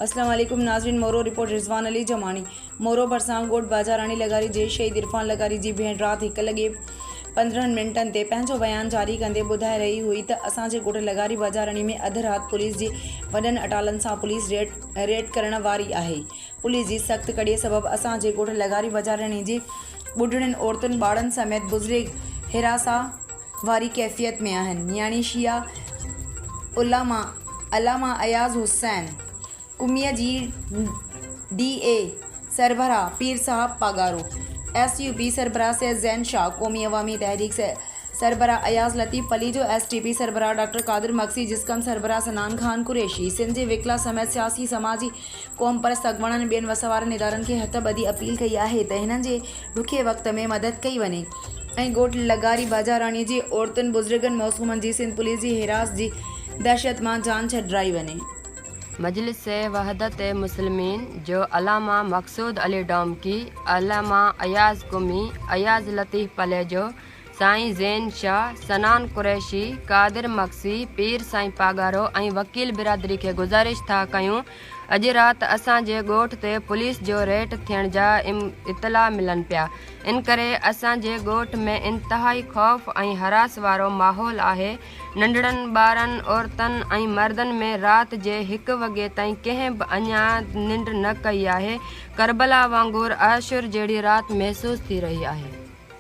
اسلام عليڪم ناظرين مورو رپورٽ رضوان علي جماڻي مورو ڀرسان ڳوٺ باجاراڻي لغاري جي شهيد عرفان لغاري جي ڀيڻ رات هڪ لڳي پندرهن منٽن تي پنهنجو بيان جاري ڪندي ٻڌائي رهي هئي ته اسان جي ڳوٺ لغاري باجاراڻي ۾ اڌ رات پوليس جي وڏن اٽالن سان پوليس ريڊ ريڊ ڪرڻ واري آهي پوليس جي سخت ڪڙي سبب اسان جي ڳوٺ لغاري باجاراڻي جي ٻڍڙين عورتن ٻارن سميت بزرگ حراساء واري ڪيفيت ۾ آهن يعني شيعا علماء علامه اياز حسين قميء جي ڊي اي سربراهه پير صاحب پاڳارو ايس يو پي سربراهه سيد زين شاهه قومي عوامي تحريڪ سربراهه Ayaz Latif Palijo S T P سربراهه ڊاڪٽر قادر مگسي جسقم سربراهه سنان خان قريشي سنڌ جي وڪلا سميت سياسي سماجي قومپرست اڳواڻن ٻين وس وارن ادارن کي هٿ ٻڌي اپيل ڪئي آهي ته هنن جي ڏکئي وقت ۾ مدد ڪئي وڃي ۽ ڳوٺ لغاري باجاراڻي جي عورتن بزرگن معصومن جي سنڌ پوليس جي حراس جي دهشت مان جان ڇڏرائي وڃي. مجلس وحدت مسلمين جو علامه مقصود علي ڊومڪي، علامه اياز قمي، اياز لطيف پليجو، سائين زين شاهه، سنان قريشي، قادر مگسي، پير سائين پاڳارو ۽ وڪيل برادري کي گذارش ٿا ڪيون اڄ رات اسان جي ڳوٺ تي پوليس جو ريٽ ٿيڻ جا اطلاع ملن پيا انڪري اسان جي ڳوٺ ۾ انتهائي خوف ۽ حراس وارو ماحول آهي ننڍڙن ٻارن عورتن ۽ مردن ۾ رات جي هڪ وڳي تائين ڪنهن به اڃا ننڊ نه ڪئي آهي ڪربلا وانگر احشر جهڙي رات محسوس ٿي رهي آهي.